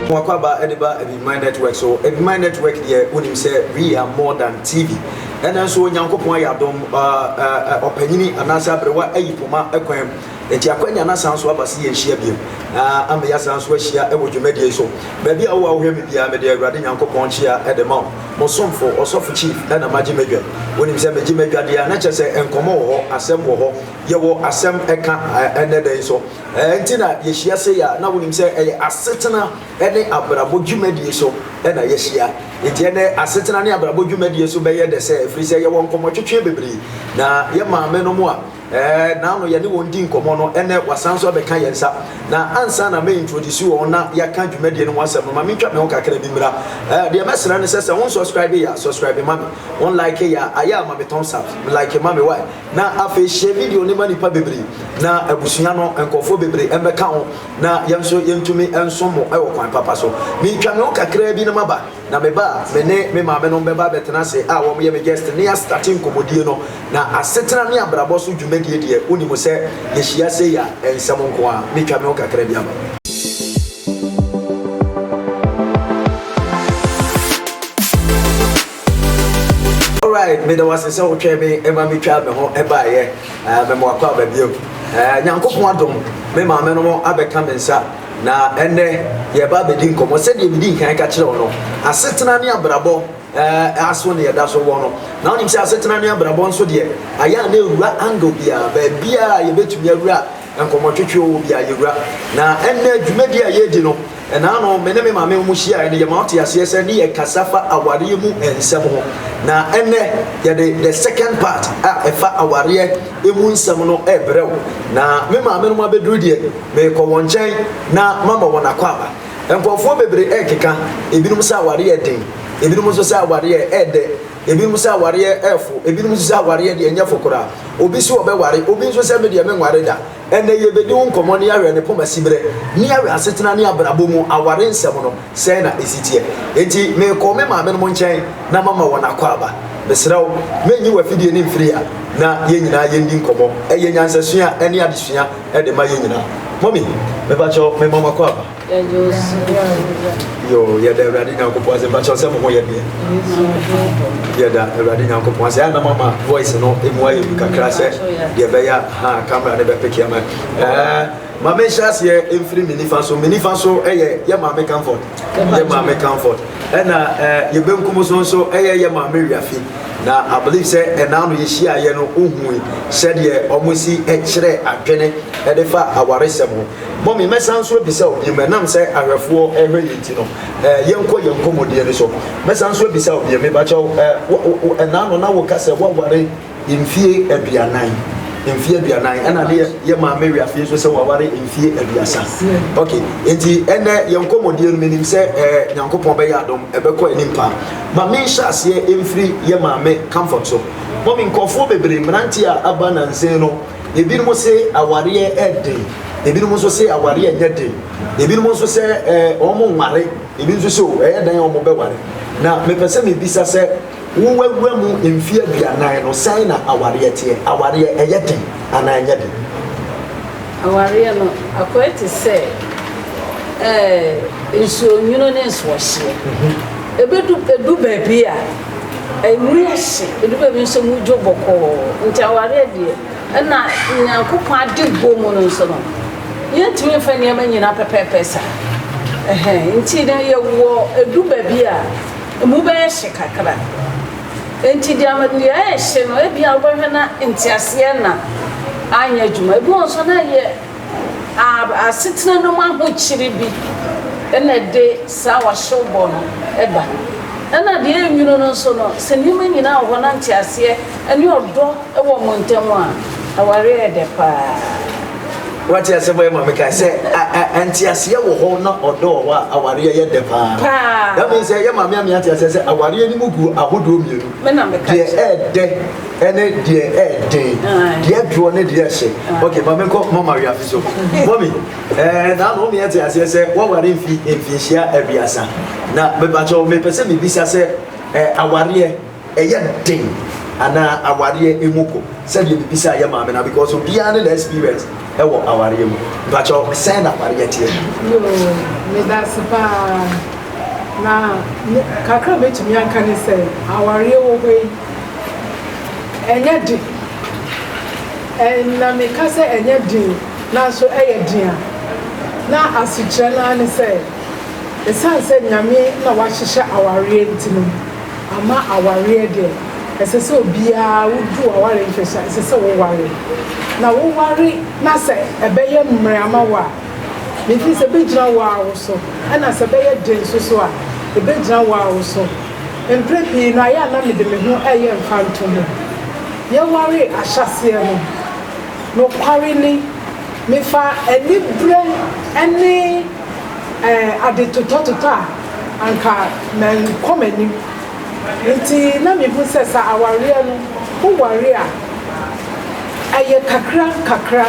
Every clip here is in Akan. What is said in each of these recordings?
Mwakwaba de ba Ebimine Network so. Ebimine Network deɛ wonim sɛ we are more than TV. Ɛna nso Onyankopɔn ayɛ adom ɔpanyini anaasɛ aberewa ayi poma kwan Enti akwanya no asan nso aba sɛ yɛnhyia bio, na ama yɛasan nso ahyia wɔ dwumadie yi so. Baabi a wowɔ a wohwɛ me biara, mede Awurade Nyankopɔn nkyea de ma wo. Mo somfo, Ɔsɔfo Chief, na magye m'adwan. Wonim sɛ megye m'adwadeɛ a, na kyerɛ sɛ nkɔmmɔ wɔ hɔ, asɛm wɔ hɔ. Yɛwɔ asɛm ka ɛnnɛ da yi nso. Ɛɛ nti na yɛhyia sei a, na wonim sɛ ɛyɛ asetena ne abrabɔ dwumadie so na yɛahyia. Enti ɛnnɛ asetena ne abrabɔ dwumadie so bɛyɛ dɛ sɛ, ɛfiri sɛ yɛwɔ nkɔmmɔtwetweɛ bebree. Na yɛn maamenom a. Ɛɛ naano yɛne wɔn di nkɔmmɔ no ɛnɛ wasan nso abɛka yɛn nsa na ansa na mɛ introduce wɔn na yɛaka dwumadie no ho asɛm no ma me ntwa me ho kakra bi mmra ɛɛ deɛ mɛsrɛ no sɛ sɛ wɔn subscribe yɛ a subscribe ma me wɔn like yɛ a ayɛ a ma me thumbs up me like ma me why na afei share video no ma nipa bebree na abusua no nkɔfoɔ bebree ɛmbɛka ho na yɛn nso yɛntumi nsom mo ɛwɔ kwan papa so me twa me ho kakra bi na maba. Na me ba a me ne me maamenom bɛba abɛtena ase a wɔyɛ me gyɛst ne astate nkɔmmɔdie no, na asetena ne abrabɔ so dwumadie deɛ, wonim sɛ yɛhyia sei a, nsɛm nko ara. Mɛtwa me ho kakra bi aba. Alright, meda wo ase sɛ wotwɛn me ma metwaa me ho baeɛ. Mɛma wakɔ aba bio. Nyankopɔn adom, me maamenom abɛka me nsa. Na ɛnnɛ, yɛreba abɛdi nkɔmmɔ, sɛdeɛ medii kan ka kyerɛɛ wo no, asetena ne abrabɔ eh, aso na yɛda so wɔ no. Na wonim sɛ asetena ne abrabɔ nso deɛ, ayɛ a na ɛwura angle biara, baabiara a yɛbɛtumi awura nkɔmmɔtwetwe wɔ biara yɛwura. Na ɛnnɛ, dwumadi a yɛredi no, ɛnaa no me ne me maame wɔn hyiaeɛ no, yɛma wote aseɛ sɛ ne yɛkasa fa awareɛ mu nsɛm ho. Na ɛnnɛ, yɛde the second part a ɛfa awareɛ emu nsɛm no rebrɛ wo, na me maamenom abɛduru deɛ, merekɔ wɔn nkyɛn na mama wɔn akwaaba. Nkurɔfoɔ bebree rekeka, ebinom sɛ awareɛ yɛ den, ebinom nso sɛ awareɛ yɛ dɛ, ebinom sɛ awareɛ yɛ fo, ebinom nso sɛ awareɛ deɛ ɛnyɛ fo koraa. Obi se ɔbɛware, obi nso sɛ me deɛ menware da. Ɛnnɛ yɛrebɛdi ho nkɔmmɔ na yɛahwɛ ne poma siberɛ ne yɛahwɛ asetena ne abrabɔ mu aware nsɛm no. Sɛn na esi teɛ? Enti mekɔ me maamenom nkyɛn na mama wɔn akwaaba. Mesrɛ wo, mɛnyi w'afidie no mfiri ha na yɛn nyinaa yɛndi nkɔmmɔ. Ɛyɛ nyansasua a ɛne adesua de ma yɛn nyinaa. Mɔmi, mepa kyɛw, mema mo akwaaba. Yɛgye wo so biara. Yoo, yɛda Awurade Nyankopɔn ase. Mepa kyɛw sɛ mo ho yɛ deɛ? Yɛda Awurade Nyankopɔn ase. Ɛyɛ na mama voice no mu ayɛ du kakra sɛ deɛ ɛbɛyɛ a, haa, camera no bɛpeke ama. Ɛɛ. Ma me nhyɛ aseɛ mfiri me nifa so. Me nifa so yɛ yɛ maame Comfort, yɛ maame Comfort. Ɛna eh, yɛ benkum so nso yɛ yɛ maame Wiafi. Na I believe sɛ ɛna ano yɛhyiaeɛ no wohui sɛdeɛ wɔn si kyerɛ adwene de fa awaresɛm ho. Mɔmi, mɛsan nso abisa wo biom, ɛnam sɛ ahwɛfoɔ rehwɛ yɛn nti no, eh, yɛnkɔ yɛn nkɔmmɔdie no so. Mɛsan nso abisa wo biom, mebakyɛw, eh, wo, wo, ɛna ano na woka sɛ woaware? Mfie aduanan, mfie aduanan, ɛna ne yɛ maame wia fie nso sɛ waware mfie aduasa. Ok, nti ɛnɛ yɛn nkɔmmɔdie no menim sɛ ɛɛ eh, Nyankopɔn bɛyɛ adom ɛbɛkɔ anim paa. Ma menhyɛ aseɛ mfiri yɛ maame comfort so. Mɔmi nkurɔfoɔ bebree mmeranteɛ a aba nansen no, ebinom se awareɛ ɛden, ebinom nso se awareɛ nyɛ den, ebinom nso sɛ ɛɛ eh, wɔn nware, ebi nso sɛ o oh, ɛyɛ dan a wɔn bɛware. Na mepɛ sɛ mebisa sɛ Wo w'awura mu mfe aduanan no sɛn na awareɛ teɛ? Awareɛ ɛyɛ den anaa ɛnyɛ den? Awareɛ no akɔɛ te sɛ ɛɛ nsuo nwunu ne nsoɔhyeɛ. Ɛbɛdu ɛdu baabi a ɛmu ahye, ɛdu baabi nso mu dwo bɔkɔɔ. Nti awareɛ deɛ ɛna Nyankopɔn ade bɔ mu no nso no yɛntumi mfa nneɛma nyina pɛpɛɛpɛ saa. Ɛhɛn nti no yɛwɔ ɛdu baabi a. Emu bɛyɛ hye kakra. Enti deɛ ama dua rehye no, ebia wobɛhwɛ na nteaseɛ na anyɛ adwuma. Ebi wɔ hɔ nso na ɛyɛ asetena no mu ahokyere bi na ɛde saa ɔhyewbɔ no ba. Ɛna deɛ ɛyɛ nwunu no nso no, sɛ nneɛma nyinaa wɔ hɔ na nteaseɛ. Ɛne ɔdɔ wɔ mo ntam a, aware yɛ dɛ paa. Wate asɛm a maame kae sɛ nteaseɛ wɔ hɔ na ɔdɔ wɔ hɔ a, awareɛ yɛ dɛ paa. Paa. That means sɛ yɛ maame ame ate aseɛ sɛ awareɛ no mu gu ahodoɔ mmienu. Me na meka kyerɛ. Deɛ ɛɛdɛ ɛne deɛ ɛɛden. Deɛ ɛdoɔ ne deɛ ɛhyɛ. Okay, maame nkɔ mama awia fi so. Mɔmi, ɛɛ na ano ɔmi ate aseɛ sɛ wɔware mfi mfinhyia aduasa. Na mebakyɛw mepɛ sɛ mebisa sɛ ɛɛ awareɛ. Ɛyɛ den anaa awareɛ emu ko sɛdeɛ me bisaa yɛ maame no because obiara ne na experience ɛwɔ awareɛ mu mpakyɛw sɛn na awareɛ teɛ. Yoo medase paa na me kakra mɛtumi aka ne sɛ awareɛ wɔ hɔ yi ɛnyɛ den ɛn na meka sɛ ɛnyɛ den nanso ɛyɛ den a na asekyerɛ naa ne sɛ ɛsiane sɛ nyame na wahyehyɛ awareɛ nti no Ama awareɛ deɛ, ɛsɛ sɛ obiara wodu aware nhwɛso a, ɛsɛ sɛ woware. Na woware na sɛ ɛbɛyɛ mmerɛ ama wo a, mefiri sɛ ɛbɛgyina wo ara wo so, ɛna sɛ ɛbɛyɛ den nso so a, ɛbɛgyina wo ara wo so. Mprɛ pii no, ayɛ a na mede me ho reyɛ mfantoho. Yɛwaree ahyɛaseɛ no, nokware ni, mefaa aniberɛ ne. ade totɔtotɔ a, anka mankɔ m'anim. Enti na mehu sɛ sɛ awareɛ no, woware a, ɛyɛ kakra kakra.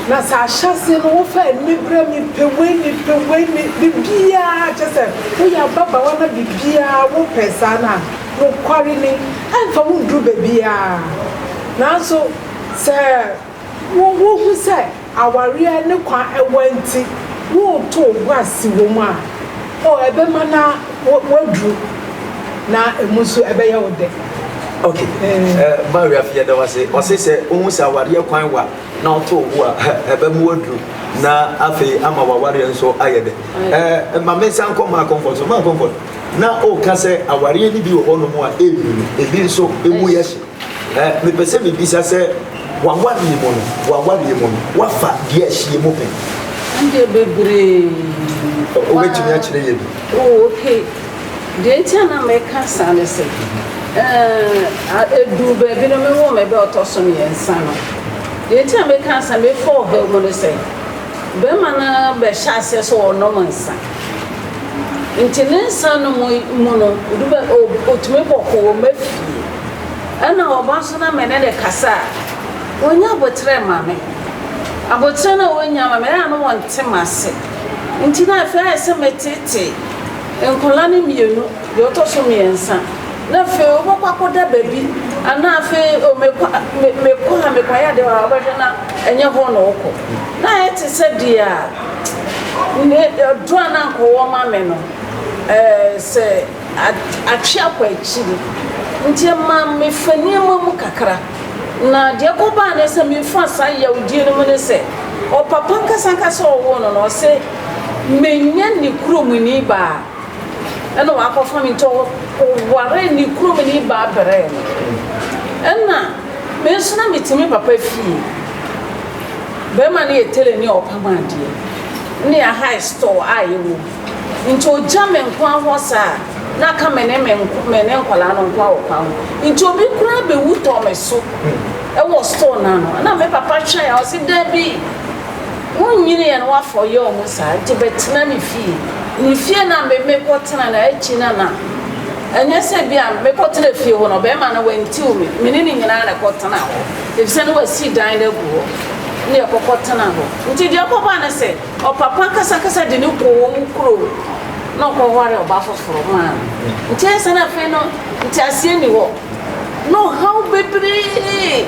Na sɛ ahyɛaseɛ no, wofa aniberɛ, mepɛ wei, mepɛ wei, me, biribiara, kyɛ sɛ woyɛ ababaawa na biribiara wopɛ saa no a, nokware ni, ɛmfa wo nnuru baabiara. Nanso sɛ. wohu sɛ awareɛ ne kwa ɛwɔ nti woreto wo bo ase wɔ mu a, oh, ɛbɛma no waduru na ɛmu nso ɛbɛyɛ wo dɛ. Okay. Eh, Mario afi yɛda wase. Ɔse sɛ ohun sɛ awareɛ kwan wa na ɔto wo a ɛbɛ mu aduru na afei ama wawareɛ nso ayɛ dɛ. Eh, ma me nsa nkɔ maa comfort so maa comfort. Na ɔka sɛ awareɛ no bi wɔ hɔ nom a ɛnwini, ebi nso ɛmu yɛ hye. Ɛ, mepɛ sɛ mibisa sɛ, w'awareɛ mu no, w'awareɛ mu no, woafa deɛ ɛhyeɛ mu pɛn? Ɛndeɛ bebree. Ɔ, wobɛtumi akyerɛ yɛn bi? O, ok. Deɛ nti a na meka saa ne sɛ, ɛ, a, ɛduu baabi no, mewoo me ba a ɔtɔ so mmiɛnsa no. Deɛ nti a meka sɛ mefa ɔhaw mu ne sɛ, barima no bɛhyɛ aseɛ sɛ ɔrenom nsa. Nti ne nsa nom yi mu no, ɛdu baabi, ɔ, ɔtumi bɔkɔɔ, ɔma fie. Nna ɔba so na me ne no kasa a, onnya aboterɛ mma me. Aboterɛ no a onnya mma me no, nna no ɔnte m'ase. Ntsi na afei ayɛ sɛ metseetsee nkwadaa no mmienu, deɛ ɔtɔ so mmiɛnsa, na afei wobɛkɔ akɔda baabi anaa afei o mekɔ a, me, mekɔ a mekɔyɛ adeɛ wɔ ha, wobɛhwɛ na ɛnyɛ hɔ na wokɔ. Na ayɛ te sɛ deɛ a, ne, ɔdɔ a na anka ɔwɔ ma me no, ɛɛ, sɛ. atwe akɔ akyiri, nti ɛma mefa nneɛma mu kakra. Na deɛ ɛkɔbaa ne sɛ mefa saa yawdie no mu ne sɛ, ɔpapa ankasa ankasa a ɔwoo no no, ɔse menya ne kuromni baa, ɛna wakɔfa me, nti ɔwaree ne kuromni baa brɛɛ me. Ɛna me nso na mete me papa fie, barima no yɛ telani a ɔpam adeɛ, na yɛahae store a yɛwɔ mu. Nti ogya me nkoa hɔ saa a, na aka me ne me nko, me ne nkwadaa no nkoa wɔ kwan ho. Nti obi koraa bɛwu tɔ me so wɔ store no ano. Ɛna me papa hwɛeɛ a, ɔse, Dabi, wonnyiniiɛ no woafa ɔyea ɔmo saa, nti bɛtena ne fie. Ne fie no a me, mekɔtena no, akyi no na, ɛnyɛ sɛ bi a mekɔtena fie hɔ no, ɔbɛɛma no wantiw me. Me ne ne nyinaa na ɛkɔtenaa hɔ, efisɛ na wasi dan no agu hɔ, ne yɛkɔkɔtenaa hɔ. Nti deɛ ɛkɔbaa ne sɛ. Ɔpapa ankasaankasa de no kɔɔ wɔn kurom na ɔkɔwaree ɔbaa foforo maa no. Nti ansa na afei no nteaseɛ nni hɔ, na ɔhaw bebree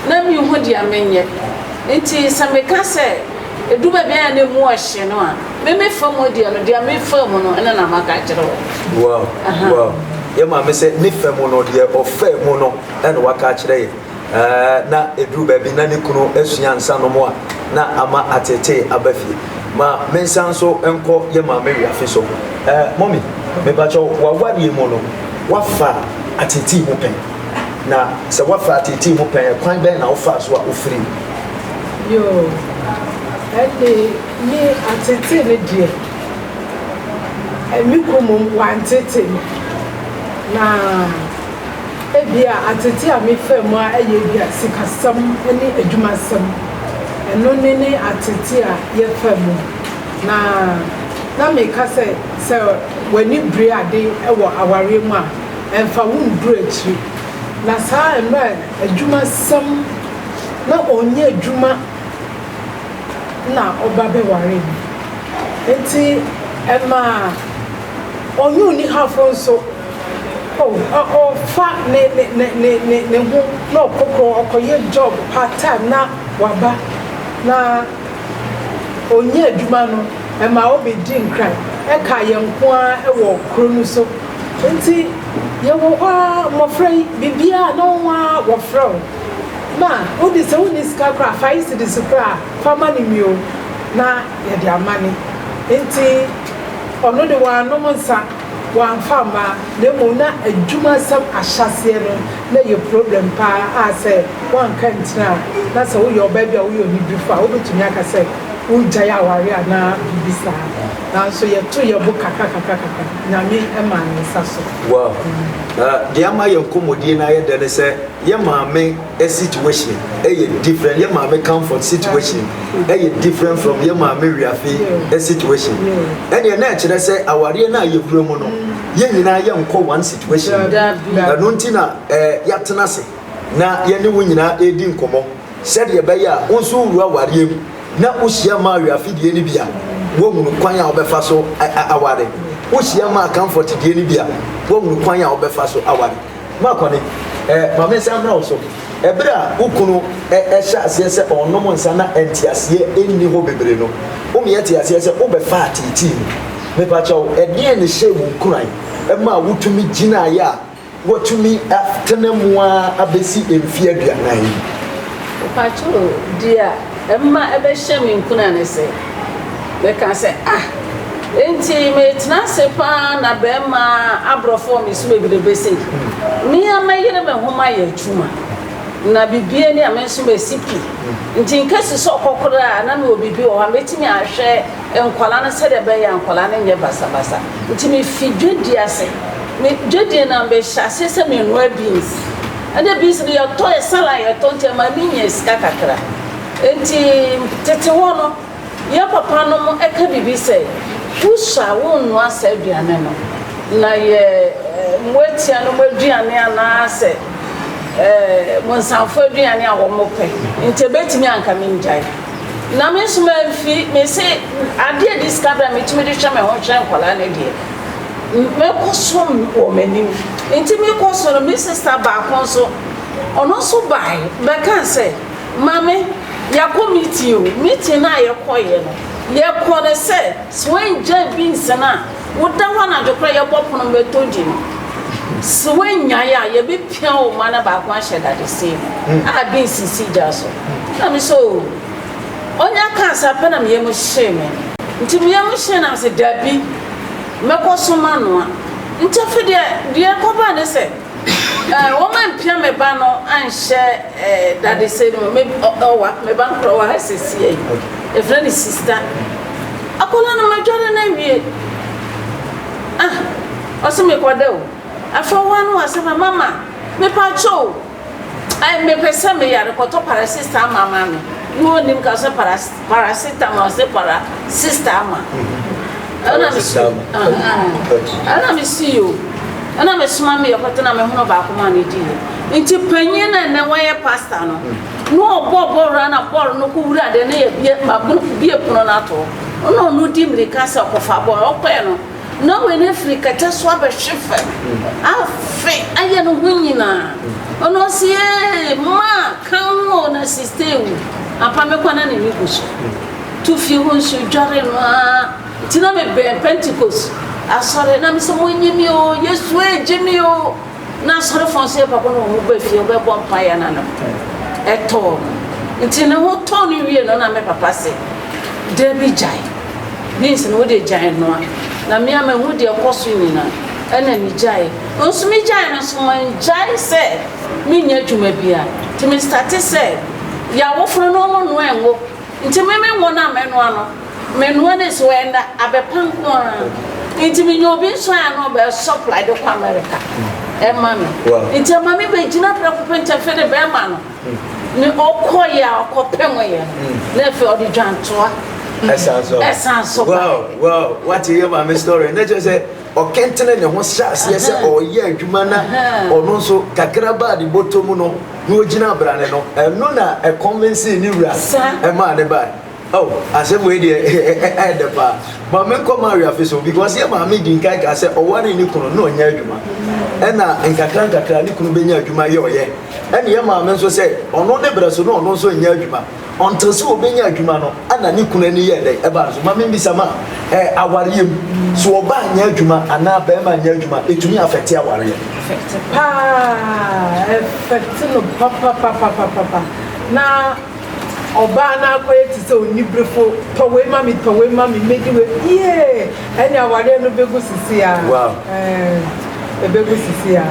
na menhu deɛ menyɛ. Nti sɛ meka sɛ ɛdu baabi a na ɛmu ɔhye no a, me me fa mu deɛ no, deɛ me faa mu no na na maka akyerɛ wo. Wow, wow. Yɛn maame sɛ ne fa mu no, deɛ ɔfaa mu no na waka akyerɛ yɛn. na ɛduru baabi na ne kunu asua nsanom a na ama atetee aba fie ma mensan nso nkɔ yɛ maame wiafe so mɔmi mepakyɛ wawareɛ mu no wafa atetee mu pɛn na sɛ wafa atetee mu pɛn kwan bɛn na wofaa so a wofiri yo ɛne me atetee no deɛ me kunu mu wantete na Ebia atsetse a mefaa mu ara yɛ bi a sikasɛm nye edwumasɛm. Eno ne ne atsetse a yɛfaa mu. Na na meka sɛ, sɛ w'ani bire ade wɔ awareɛ mu a, ɛmfa wo nnduru akyiri. Na saa mmerɛ a adwumasɛm na ɔnnyɛ adwuma na ɔba bɛ waree me. Nti ɛmaa ɔnye onihafo nso. Oh, ɔ, ɔfa ne, ne, ne, ne, ne, ne ho na ɔkɔkorɔ, ɔkɔyɛ job part time na waba, na ɔnya adwuma no, ɛma ɔbɛdi nkran, ɛkaa yɛn nko ara wɔ kuro no so. Nti yɛwɔ hɔ ara, mmɔfra yi, biribiara na wɔn ara wɔfrɛ wo. Na wode, sɛ wonni sika koraa a, fa yi cedis koraa a, fa ma no mmio, na yɛde amane. Nti ɔno de, wanom nsa. Wɔamfa amma, na mmom na adwumasɛm ahyɛaseɛ no na ɛyɛ problem pa ara a sɛ woanka antini a, na sɛ woyɛ ɔbaa bi a woyɛ onidifo a, wobɛtumi aka sɛ woregyae aware anaa biribi saa. Nanso yɛtoo yɛn bo kakra kakra kakra. Nyame maa ne nsa so. Wow! Na deɛ ama yɛn nkɔmmɔdie no ayɛ dɛ ne sɛ yɛn maame, situation ɛyɛ different yɛ maame comfort situation ɛyɛ different from yɛ maame wiafe situation ɛneɛ na ɛkyerɛ sɛ awareɛ no a yɛwura mu no yɛn nyinaa yɛnkɔ one situation ɛno nti na yɛatena ase na yɛne wo nyinaa ɛredi nkɔmmɔ sɛdeɛ ɛbɛyɛ a wo nso wowura awareɛ mu na wohyia maa wiafe deɛ no bi a woahunu kwan a wobɛfa so aware wohyia maa comfort deɛ no bi a woahunu kwan a wobɛfa so aware M'akɔne, eh, ma me nsa mmra wo so. Bere a wo kunu hyɛɛ aseɛ sɛ ɔnnom nsa na nteaseɛ nni hɔ bebree no, wo meɛ tee aseɛ sɛ wobɛfa ateetee mu. Mepakyɛw, ɛdeɛn na ɛhyɛɛ wo nkuran maa wotumi gyinaeɛ a woatumi atena mu ara abɛsi mfeɛ aduanan yi? Mepakyɛw, dear, Ɛmma ɛbɛhyɛ me nkuran ne sɛ, mɛka sɛ, Ah! Enti meretena ase paa na barima aborɔfo wɔ me so bebrebe sei? Me ara mɛyere me ho mayɛ adwuma, na biribi ani a me nso masi pi. Enti nka si sɛ ɔkɔ koraa a, na mewɔ biribi wɔ hɔ a mɛtumi ahwɛ nkwadaa no sɛdeɛ ɛbɛyɛ a nkwadaa no nyɛ basabasa. Enti mefi dwadie ase. Me dwadie no ara mɛhyɛ aseɛ sɛ menoa beans. Ɛna bi nso de yɛtɔ yɛ salad yɛtɔ nti ɛma mi nya sika kakra nti tete hɔ no yɛ papa nom ɛka bibi sɛ wo sua wo nnoa saa aduane no na yɛ moatia nom aduane anaa sɛ bonsanfoɔ aduane a wɔn pɛ nti ɛbɛtumi anka me ngyae na me nso ma mfi me se adeɛ de sika bra me tumi de hwɛ me ho hwɛ nkwadaa no deɛ. Mɛkɔsom wɔ m'anim. Enti mekɔ so no, me sista baako nso, ɔno nso bae bɛkaa sɛ, Maame, yɛakɔ meeting o. Meeting no a yɛkɔeɛ no, yɛkɔɔ no sɛ, sɛ woanngyae beans no a, woda hɔ anadwo koraa yɛbɔ pono bɛtɔ di no. Sɛ woannyae a, yɛbɛpia wo mma no baako ahyɛ dadesɛn mu a beans si gya so. Ɛnna me sɛ, Oo! Ɔnya kaa saa pɛ na me yam hyee me. Nti me yam hyee na me se dabi, mɛkɔ so manoa. Nti afei deɛ deɛ ɛkɔbaa ne sɛ, eh, wɔampia me ba no anhyɛ eh, dadesɛn no mu. Me, ɔ, ɔwa, me ba no kora ɔwɔ ha sesie yi. Yɛfrɛ no sista. Akwadaa no madware no awie. Ah, ɔse mekɔda o. Afei ɔwa no asɛm no, mama, mepa kyɛw. Ai me pɛ sɛ me yare kɔtɔ parasistaa ma ma me ne onim ka sɛ paras parasita ma ɔsɛ para sistaa ma ɛna me si ɛna me si yo ɛna me soma me yɛkɔtɔ na me hono baako ma ne di yɛ nti panyin na ɛnɛ wɔyɛ pasta no na ɔbɔ bɔɔl na bɔɔl no kɔ wura de ne yɛ bie ma bie pono no atɔ ɔna ɔno di mirika sɛ ɔkɔfa bɔɔl ɔkɔɛ no Norway no afiri kɛtɛ so abɛhwe fam afe ayɛ no ho nyinaa ɔno ɔse ee maa ka ho o na sista ewu apa me kwana ne ne gu so tu fie ho nsuo dware no a nti na me bɛn pentecost asɔre na me sɛ mo nye me o yesu ee gye me o Ná asɔrefo nso yɛ bako na wɔn mu baafie a ɔbɛbɔ mpae a na ne ho tɔ no. Enti ne ho tɔɔ no wiei no, na me papa se, Dabi, gyae. Beans no, wode agyae nnoa. Na me a mahu deɛ ɛkɔ so nyinaa, ɛna migyae. Nso migyae no nso, mangyae sɛ menyɛ adwuma biara. Enti mestate sɛ yɛawofono nnoɔma noa ngo. Nti me me nwo no a mɛnoa no, menoa no esi hɔ ɛnda abɛpa nko ara. Nti me nya obi nso a ɛno ɔbɛ supply de kɔ America ɛma me. Nti ɛma me bɛ gyina prɛko pɛ nti afei de bɛɛma no ne ɔkɔ yɛ a ɔkɔ pɛ mo yɛ no na afei ɔde dwantoa ɛsan so baɛ. Wow wow wate yɛ maame story na kyerɛ sɛ. ɔkentenee ne ho hyɛɛ aseɛ sɛ ɔreyɛ adwuma na ɔno nso kakra baa ne bɔtɔ mu no na ɔgyina abrane no, ɛno na ɛkɔnvensee ne wura ɛmaa ne bae. Oh, asɛm wei deɛ ɛyɛ dɛ paa. Ma menkɔ Mario afe so, because yɛn maame dii nkan kaa sɛ ɔwaree ne kunu na ɔnyɛ adwuma, ɛna nkakrankakra ne kunu bɛnya adwuma yɛ ɔyɛ, ɛna yɛn maame nso sɛ ɔno ne berɛ so na ɔno nso nyɛ adwuma. Ɔnntsew sɛ obennya edwuma no, ana ne kun enyi yɛɛ dɛn? Ebaa no so. Ma mimbisa ma ɛ, awaryɛ mu, sɛ ɔbaa nnyɛ edwuma anaa bɛrima nnyɛ edwuma, etumi afɛkte awaryɛ? Afɛkte paa, ɛfɛkte no papapapapapa. Na ɔbaa no akɔyɛ te sɛ oniberefo, tɔ wei ma me, tɔ wei ma me, medi wei, yiee! Ɛne awareɛ no bɛgu sisi a. Wow. Ɛɛ, ɛbɛgu sisi a.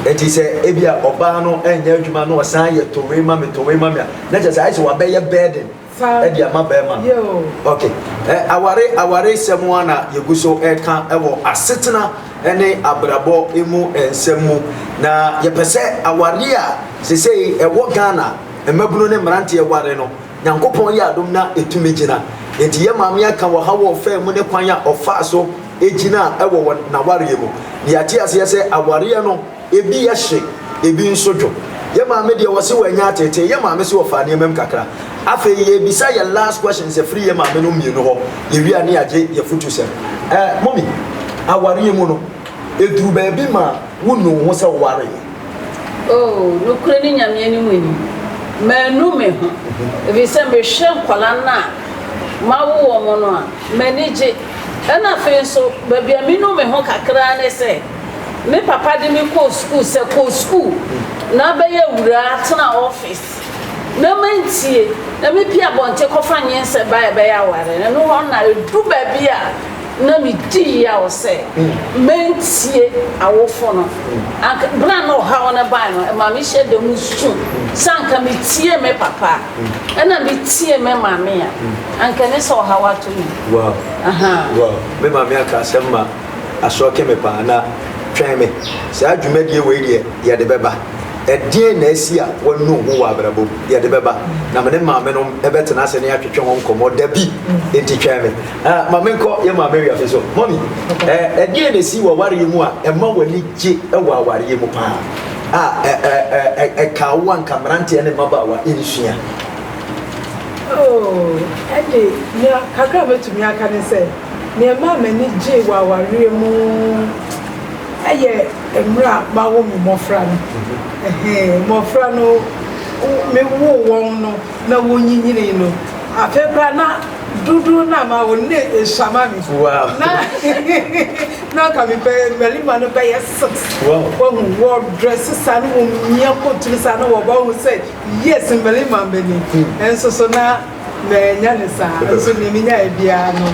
Eti sɛ ebi a ɔbaa no ɛnyɛ adwuma na ɔsan yɛ towee ma me towee ma me a, na kyerɛ sɛ ayɛ sɛ wabɛyɛ burden ɛde ama bɛrima no. Ok, ɛ aware aware sɛm a na yɛgu so ɛka ɛwɔ asetena ɛne abrabɔ emu nsɛm mu na yɛpɛ sɛ aware a sesei ɛwɔ Ghana mmabunu ne mmeranteɛ ware no Nyankopɔn yɛ adom na etumi gyina. Enti yɛn maame aka wɔ ha wɔ ɔfã mu ne kwan a ɔfaa so gyinaa wɔ wɔn n'awareɛ mu. Na yɛate aseɛ sɛ awareɛ no ebi yɛ hye, ebi nso dwo. Yɛn maame deɛ ɔse wanya ateetee, yɛn maame se ɔfaa nneɛma mu kakra. Afei yɛrebisa yɛn last questions afiri yɛn maame nom mmienu hɔ, yɛwie a ne yɛagye yɛn afutusɛm. Eh, Mummy, awareɛ mu no, eduru baabi ma wonu wo ho sɛ wowareeɛ? Oh, nokorɛ ne Nyame anim ni, manu me ho, ɛfiri sɛ mehwɛ nkwadaa no a mawo wɔn no a, m'ani gye. Ɛna afei nso, baabi a menu me ho kakra ara ne sɛ, me papa de me kɔɔ sukuu, sɛ kɔ sukuu na bɛyɛ awuraa, tena office. na mantie, na mipii abɔnten kɔfa nyinsɛn bae a ɛbɛyɛ aware. Ɛno hɔ na edu baabi a na midi yaw sɛ mantie awofo no. Anka bere a na ɔhaw no bae no, ɛma mehyɛɛ da mu su sɛ anka mitie me papa a, na mitie me maame a, anka ɛne sɛ ɔhaw atɔ me. Wow! Wow! Me maame aka asɛm ma. asɔke me paa, na twɛn me, saa dwumadie wei deɛ yɛde bɛba. Ɛdeɛn na asi a wɔanu ho wɔ abrabɔ mu? Yɛde bɛba, na me ne maame nom bɛtena ase ne atwetwe ho nkɔmmɔ da bi, enti twɛn me. Ɛ, ma menkɔ yɛn maame awiafe so. Mɔmi, ɛ, ɛdeɛn na asi wɔ awareɛ mu a ɛma w'ani gye wɔ awareɛ mu paa a ɛ, ɛ, ɛ, ɛ, ɛkaa wo a nka mmeranteɛ ne mmabaawa nsua? Oh, ɛnde, nea kakra a mɛtumi aka ne sɛ. Nea ɛmaa m'ani gyei wɔ awareɛ mu yɛ mmerɛ a mawo me mmɔfra no. Mmɔfra no, mewoo wɔn no na wɔnyinyinii no, afei koraa na dodoɔ no a mawo no na ɛsuama me. Na na anka mepɛ mmarima no bɛyɛ six. Wahu wɔdrɛse saa na wɔmia coat no saa na wɔba wohu sɛ yes mmarima mba ni. Nanso so na Manya no saa nso deɛ menyaeɛ biara no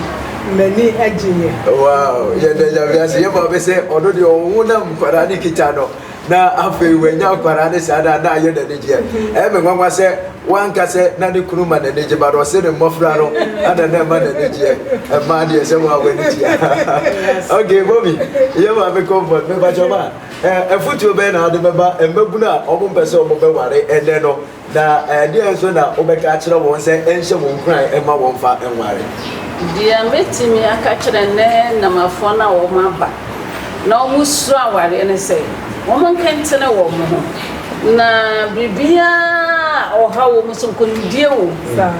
m'ani gyeeɛ. Wow yɛda Nyame ase yɛ maame sɛ ɔno deɛ ɔwo na nkwadaa ne kita no na afei wanya nkwadaa ne saa na na ayɛ n'ani gyeɛ ɛyɛ me nwanwa sɛ wanka sɛ na ne kunu ma n'ani gye ba no ɔse ne mmɔfra no ana na ɛma n'ani gyeɛ ɛmaa deɛ sɛ wɔn a w'ani tia ok mɔmi yɛ maame comfort mebakyɛ ma ɛfutuo bɛyɛ na ade bɛba mmabunu a ɔmo mpɛ sɛ ɔmo bɛware ɛnɛ no Na ɛdeɛn nso na wobɛka akyerɛ wɔn sɛ ɛnhyɛ wɔn nkuran mma wɔmfa nware? Deɛ mɛtumi aka akyerɛ ɛnnɛ Namafoɔ no a wɔaba na wɔsuro awareɛ ne sɛ, wɔn nkentene wɔn ho. Na biribiara a ɔhaw wɔn nso, nkonimdie wom.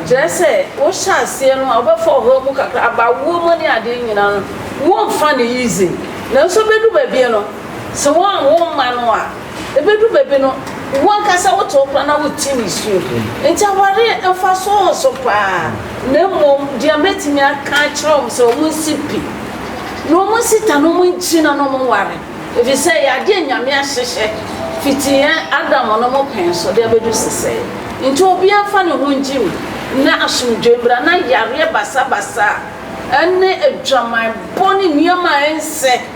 Kyerɛ sɛ, wohyɛ aseɛ no a, wobɛfa ɔhaw mu kakra, aba awoɔ mu ne adeɛ nyinaa no, wonfa no easy. Nanso ɛbɛdu baabi no, sɛ woanwo mma no a, Ebedu baabi no, wo ankasa wote wo kora na wote nisuo. Enti awareɛ mfasoɔ wɔ so paa. Na mmom deɛ mɛtumi aka akyerɛ wɔn sɛ wɔn nsi pi, na wɔn nsi ta, na wɔn nkyi, na wɔn nware. Ɛfiri sɛ ɛyɛ adeɛ a Nyame ahyehyɛ fiti yɛn Adam nom pɛn so de abɛdu sesɛɛ. Enti obiara mfa ne ho ngye mu, na asomdwoeɛ mmra, na yareɛ basabasa, ne adwaman bɔ, ne nneɛma a ɛnsɛ,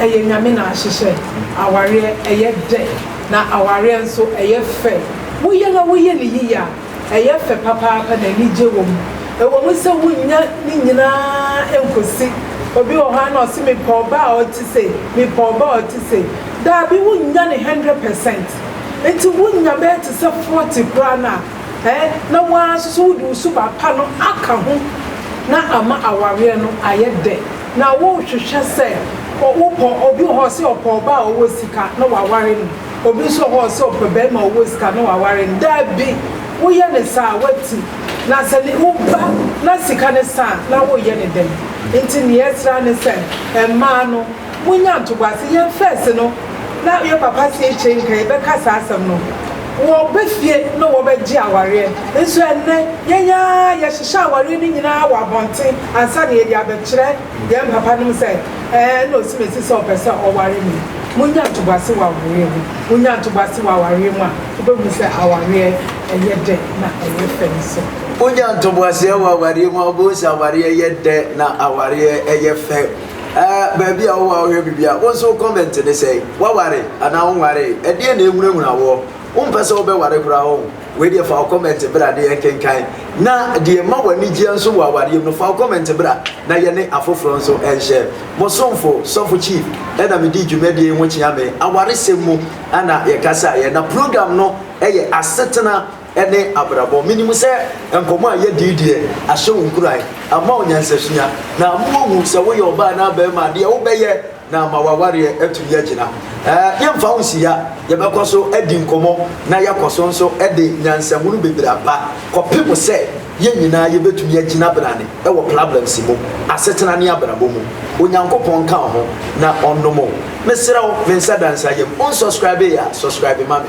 ɛyɛ Nyame na ahyehyɛ awareɛ ɛyɛ dɛ na awareɛ nso ɛyɛ fɛ woyɛ na woyɛ no yiye a ɛyɛ fɛ papaapa na anigye wɔ mu ɛwɔ mu sɛ wonnya ne nyinaa nkɔsi obi wɔ hɔ a na ɔse mepɛ ɔbaa a ɔte sei mepɛ ɔbaa a ɔte sei daabi wonnya ne hundred percent nti wonya bɛyɛ te sɛ forty koraa no a ɛɛ na woaa nso so wode wo suba pa no aka ho na ama awareɛ no ayɛ dɛ. Na wo hwehwɛ sɛ wo pɔ obi wɔ hɔ ɔsɛ ɔpɛ ɔbaa a ɔwɔ sika na waware no obi nso wɔ hɔ ɔsɛ ɔpɛ bɛɛma a ɔwɔ sika na waware no daabi wo yɛ no saa wati na sɛ ne wo ba na sika no sa a na wo yɛ no dɛn nti neɛ ɛsrɛ a ne sɛ mmaa no mo nya ntoboase yɛn fɛs no na yɛ papa se yɛ kyɛ nka yɛ bɛ ka saa asɛm no wɔ bɛ fie na wɔ bɛ gye awareɛ nso ɛnnɛ yɛn aa yɛ hyehyɛ awareɛ no nyinaa wɔ abɔnten Ansa na yɛde abɛkyerɛ yɛn papanom sɛ, Ɛɛ, ɛna osi me si sɛ ɔpɛ sɛ ɔware me. Munnya ntoboase wɔ awareɛ mu. Wunya ntoboase wɔ awareɛ mu a, wobɛhunu sɛ awareɛ yɛ dɛ na ɛyɛ fɛ nso. Wunya ntoboaseɛ wɔ awareɛ mu a, wobɛhu sɛ awareɛ yɛ dɛ na awareɛ yɛ fɛ. Ɛɛ, baabi a wowɔ a wohwɛ biribi a, wo nso wo kɔmɛnte ne sɛn? Woaware anaa wonwaree? Ɛdeɛn na ɛhunahuna woɔ? Wompɛ sɛ wobɛware koraa o. Wei deɛ fa wo kɔmɛnte bra de yɛnkenkan na deɛ ɛma w'anigyeɛ nso wɔ awareɛ mu no fa wo kɔmɛnte bra na yɛne afoforɔ nso nhyɛ. Mo somfo Sɔfo Chief na medii dwumadie yi ho kyeame awaresɛm mu na yɛkasaeɛ. Na program no yɛ Asetena ne Abrabɔ. Menim sɛ nkɔmmɔ a yɛadi yi deɛ ahyɛ wo nkuran, ama wo nyansasua na ama woahu sɛ woyɛ ɔbaa anaa barima a deɛ wobɛyɛ na ama w'awareɛ atumi agyina. Yɛmfa wo nsi ha, yɛbɛkɔ so adi nkɔmmɔ na yɛakɔ so nso de nyansahunu bebree aba kɔpem sɛ yɛn nyinaa yɛbɛtumi agyina benane wɔ problems mu, asetena ne abrabɔ mu. Onyankopɔn nka wo ho na ɔnnom wo. Mesrɛ wo, me nsa da nsa yam. Wonsɔscribee a, subscribe ma me.